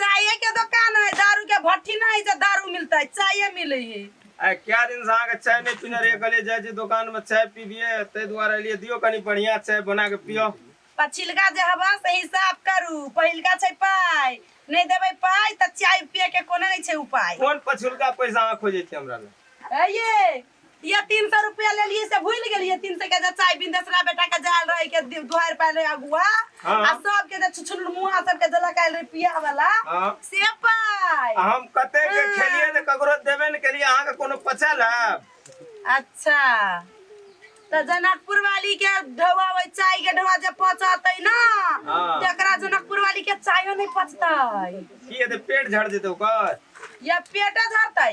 चाय के दुकान है दारू के भट्टी ना है जे दारू मिलता है चाय मिले है आ क्या दिन से अहाँके चाय नहि पीने रहियै कहलियै जाइ छी दोकान मे चाय पीबियै ताहि दुआरे एलियै दियौ कनि बढ़िया चाय बना के पियो पछिलका जे हवा से हिसाब करू पहिलका छै पाय नहीं देबै पाय तऽ चाय पिए के कोनो नहीं छै उपाय कोन पछुलका पैसा अहाँ खोजै छी हमरा लग ए ये ये तीन सौ रुपया ले लिए से भूल गेलिए तीन सौ के जे चाय बिन दसरा बेटा के जाल रहे के दि- दुहार पायल रहे अगुआ हाँ। आ सब के जे छुछुन मुहा सब के देलक आयल रहे पिया वाला हाँ। से पाय आ हम कते के हाँ। खेलिए ने ककरो देबे ने केलिए अहाँ के कोनो पचल है अच्छा तो जनकपुर वाली के ढवा वही चाय के ढवा जब पचतै ना हाँ। तेकरा जनकपुर वाली के चायो नहीं पचतै की हेतै पेट झड़ जेतै ओकर या पेटे झरतै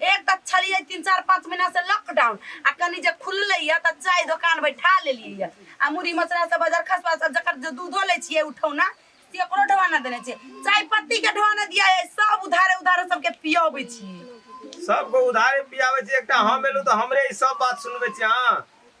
एक तऽ छलियै तीन चार पाँच महीना से लॉकडाउन आ कनी जे खुललै यऽ तऽ चाय दोकान बैठा लेलियै यऽ आ मुरही मसरा सब बाजार खसवा सब जकर जे दूधो लै छियै उठौना से ओकरो ढवाना देने छियै चाय पत्ती के ढवाना दिया है सब उधारे उधारे सबके पियाबै छियै सबके उधारे पियाबै छियै एकटा हम एलहुँ तऽ हमरे ई सब बात सुनबै छियै अहाँ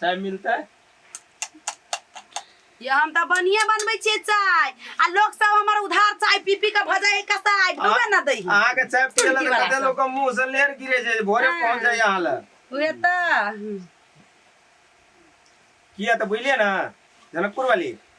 चाय मिलते ये हम त बनिए बनबै छियै चाय आ लोग सब हमर उधार चाय पी पी के भऽ जाए कसाय डूबे न दै अहाँ के चाय पिए लग कते लोग के मुंह से लेर गिरे छै भोरे पहुंच जाए अहाँ ल उहे त किया त बुझलिए ना जनकपुर वाली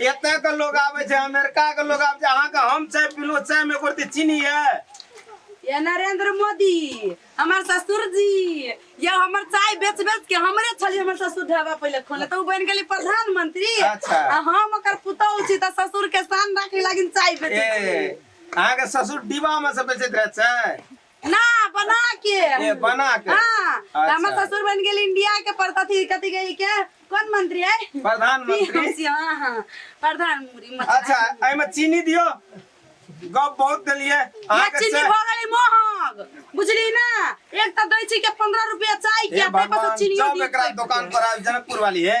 एतय के लोग आवे छै अमेरिका के लोग आवे छै अहाँ के हम चाय पीलो चाय में कुर्ती चीनी है ये नरेंद्र मोदी हमर ससुर जी ये हमर चाय बेच बेच के हमरे छली हमर ससुर ढाबा पहले खोले तो उ बन गेली प्रधानमंत्री अच्छा। आ हम ओकर पुतौह छी त ससुर के शान राखे लागिन चाय बेचे ए छी अहाँ के ससुर डिब्बा में से बेचैत रहे छै ना बना के ए बना के हाँ तो हमर अच्छा। ससुर बन गेल इंडिया के परता थी कथी गई के कौन मंत्री है प्रधानमंत्री हाँ हाँ प्रधानमंत्री मतलब अच्छा एहिमे चीनी दियो गप बहुत देलिए या अहाँके चीनी से- भऽ गेलै महग बुझली ना एक तऽ दै छी के 15 रुपया चाय के हे ताहि पर भगवान चीनियो जब दियो एकरा दुकान पर आयल जनकपुर वाली है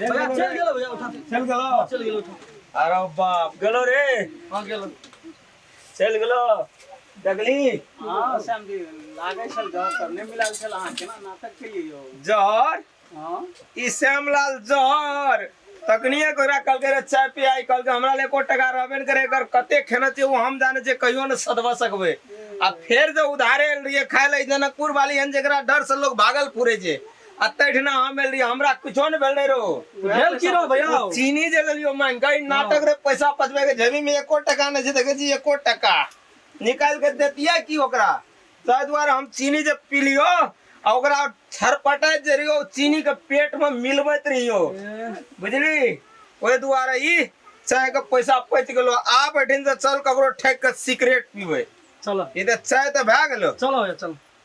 भैया चल गेलो भैया उठा चल गेलो चल गेलो उठा अरे बाप गेलो रे हां गेलो चल गेलो देखली हां श्याम जी लागे छल जहर करने मिलाल छल अहां केना नाटक केलिए यौ जहर हां ई श्यामलाल जहर तकनिए कोरा कल के चाय पी आई कल के हमरा ले को टका रहबे न करे एकर कते खेना छै वो हम जाने छै कहियो न सदवा सकबे आ फेर जो उधारे लिए खाए ले जनकपुर वाली हन जेकरा डर से लोग भागल पूरे जे आ तहिना हम एल रही हमरा कुछो ने भेल रहे रो भेल की रो भैया ओ चीनी जे लेलियो मांग गई नाटक रे पैसा पचबे के जेबी में एको टका नहीं छै देखे छी एको टका निकाल के देतिया की ओकरा ताहि दुआरे हम चीनी जे पीलियो आ ओकरा छरपटाइत जे रहियो चीनी के पेट में मिलबैत रहियो बुझली ओहि दुआरे ई चाय के पैसा पच गेलो आब एठिन से चल ककरो ठेक के सिगरेट पीबै चलो ई तऽ चाय तऽ भए गेलो चलो भैया चलो